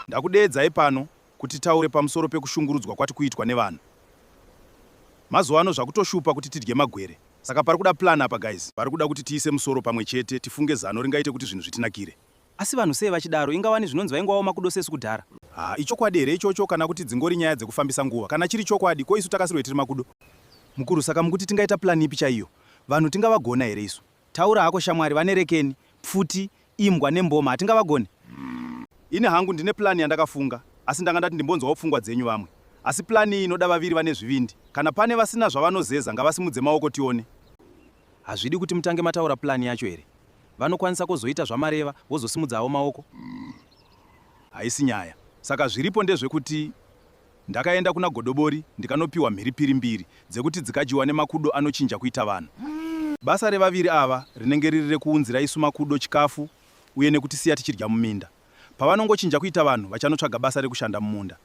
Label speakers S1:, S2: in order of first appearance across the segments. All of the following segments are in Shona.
S1: Ndakudeedzai pano kuti taure pamusoro pekushungurudzwa kwati kuitwa nevanhu. Mazuva ano zvakutoshupa kuti tidye magwere. Saka pari kuda plan apa guys. Pari kuda kuti tiise musoro pamwe chete tifunge zano ringaite kuti zvinhu zvitinakire. Asi vanhu sei vachidaro inga wani zvinonzi vaingoaoma kudo sesu kudhara. Haa ichokwadi here ichocho kana kuti dzingori nyaya dzekufambisa nguva. Kana chiri chokwadi ko isu takasirwei tiri makudo. Mukuru saka mukuti tingaita plan ipi chaiyo. Vanhu tingavagona here isu. Taura hako shamwari vane rekeni, pfuti, imbwa nemboma hatingavagone? Ini hangu ndine plan yandakafunga asi ndanga ndati ndimbonzwawo pfungwa dzenyu vamwe. Asi plan iyi inoda vaviri vane zvivindi. Kana pane vasina zvavanozeza ngavasimudze maoko tione. Hazvidi kuti mutange mataura plan yacho here? Vanokwanisa kozoita zvamareva vozosimudza avo maoko. Haisi nyaya. Saka zviripo ndezvekuti ndakaenda kuna Godobori ndikanopiwa mhiripiri mbiri dzekuti dzikadyiwa nemakudo anochinja kuita vanhu. Basa revaviri ava rinenge riri rekuunzira isu makudo chikafu uye nekutisiya tichidya muminda. Pavanongochinja kuita vanhu vachanotsvaga basa rekushanda mumunda.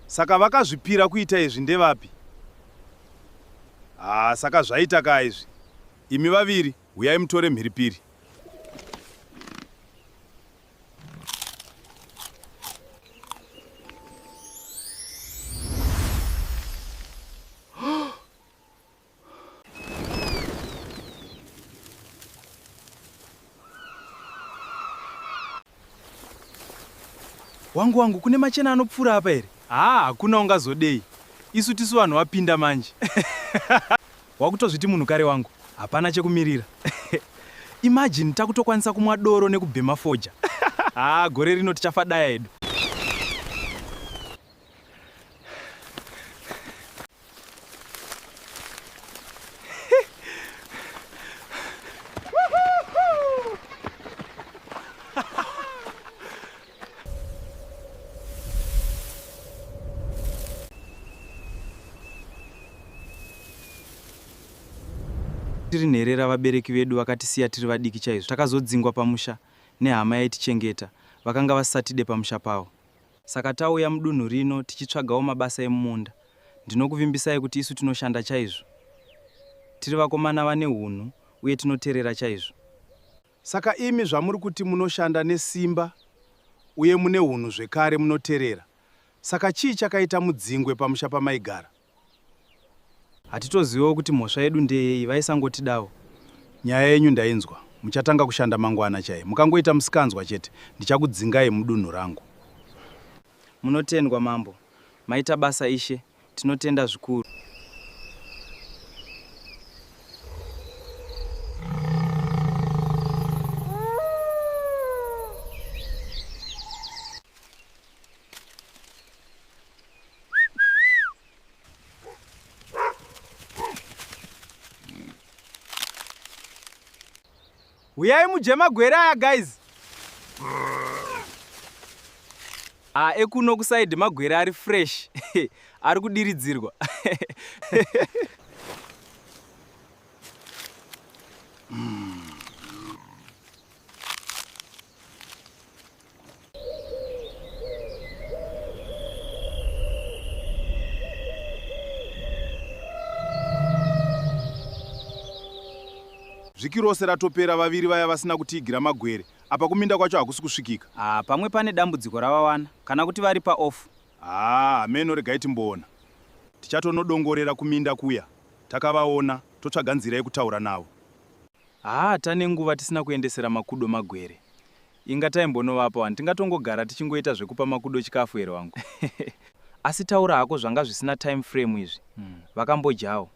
S1: Saka vakazvipira kuita izvi ndevapi? Haa ah, saka zvaita kaa izvi. Imi vaviri huyai mutore mhiripiri. wangu wangu kune machena anopfuura apa here haa hakuna ungazodei isu tisu vanhu vapinda manje wakutozviti munhu kare wangu hapana chekumirira imagine takutokwanisa kumwa doro nekubhema foja haa gore rino tichafa daya edu tiri nherera vabereki vedu vakatisiya tiri vadiki chaizvo takazodzingwa pamusha nehama yaitichengeta vakanga vasatide pamusha pavo Saka tauya mudunhu rino tichitsvagawo mabasa emumunda. Ndinokuvimbisai kuti isu tinoshanda chaizvo. Tiri vakomana vane hunhu uye tinoterera chaizvo. Saka imi zvamuri kuti munoshanda nesimba uye mune hunhu zvekare munoterera, saka chii chakaita mudzingwe pamusha pamaigara? Hatitozivewo kuti mhosva yedu ndeyei vaisangotidawo. Nyaya yenyu ndainzwa. Muchatanga kushanda mangwana chai. Mukangoita musikanzwa chete ndichakudzingai mudunhu rangu. Munotendwa mambo. Maita basa ishe. Tinotenda zvikuru. huyai mudye magwere aya guys a ah, ekuno kusaidi magwere ari fresh ari kudiridzirwa vhiki rose ratopera vaviri vaya vasina kutiigira magwere apa kuminda kwacho hakusi kusvikika ah, pamwe pane dambudziko ravawana kana kuti vari paoff haa ah, meno regai timboona tichatonodongorera kuminda kuya takavaona totsvaga nzira yekutaura navo haa ah, tane nguva tisina kuendesera makudo magwere Inga taimbonovapa wani tingatongogara tichingoita zvekupa makudo chikafu here wangu. Asi taura hako zvanga zvisina time frame izvi. Vakambodyawo.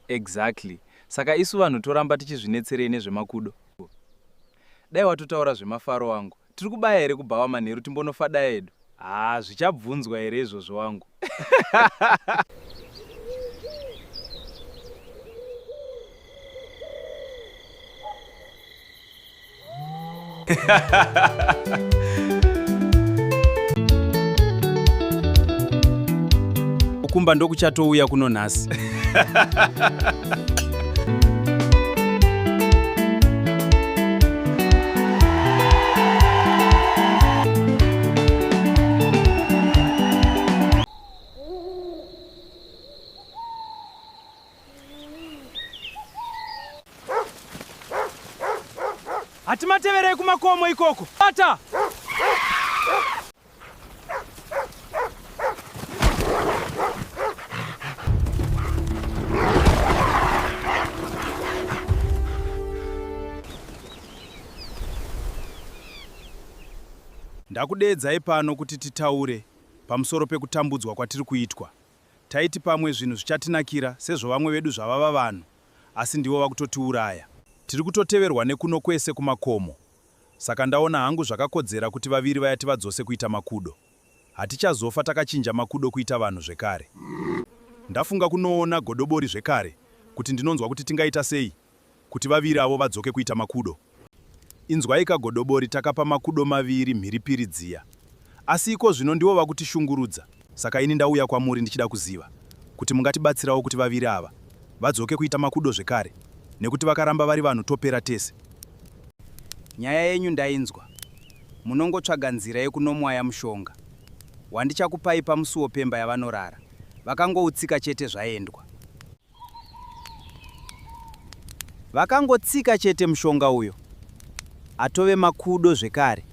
S1: Exactly. Saka isu vanhu toramba tichizvinetserei nezvemakudo. Dai watotaura zvemafaro wangu. Tiri kubaya here kubhawa manheru timbonofadaya hedu. Haa zvichabvunzwa here izvozvo wangu. Kumba ndokuchatouya kuno nhasi. hatimateverei kumakomo ikoko bata Ndakudeedzai pano kuti titaure pamusoro pekutambudzwa kwatiri kuitwa. Taiti pamwe zvinhu zvichatinakira sezvo vamwe vedu zvavava vanhu, asi ndivo vakutotiuraya. Tiri kutoteverwa nekuno kwese kumakomo, Saka ndaona hangu zvakakodzera kuti vaviri vaya tivadzose kuita makudo. Hatichazofa takachinja makudo kuita vanhu zvekare. Ndafunga kunoona godobori zvekare kuti ndinonzwa kuti tingaita sei kuti vaviri avo vadzoke kuita makudo. Inzwaika godobori takapa makudo maviri mhiripiri dziya. Asi iko zvino ndivo vakutishungurudza. Saka ini ndauya kwamuri ndichida kuziva kuti mungatibatsirawo kuti vaviri ava vadzoke kuita makudo zvekare nekuti vakaramba vari vanhu topera tese. Nyaya yenyu ndainzwa. Munongotsvaga nzira yekunomwaya mushonga wandichakupai pamusuwo pemba yavanorara vakangoutsika chete zvaendwa. Vakangotsika chete mushonga uyo atove makudo zvekare.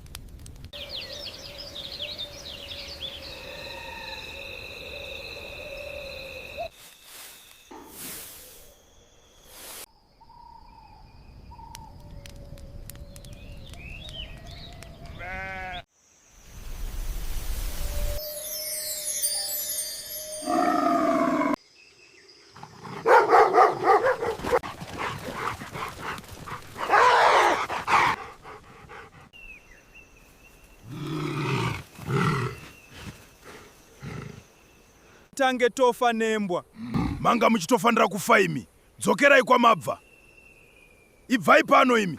S1: tange tofa nembwa manga muchitofanira kufa imi dzokerai kwamabva ibvai pano imi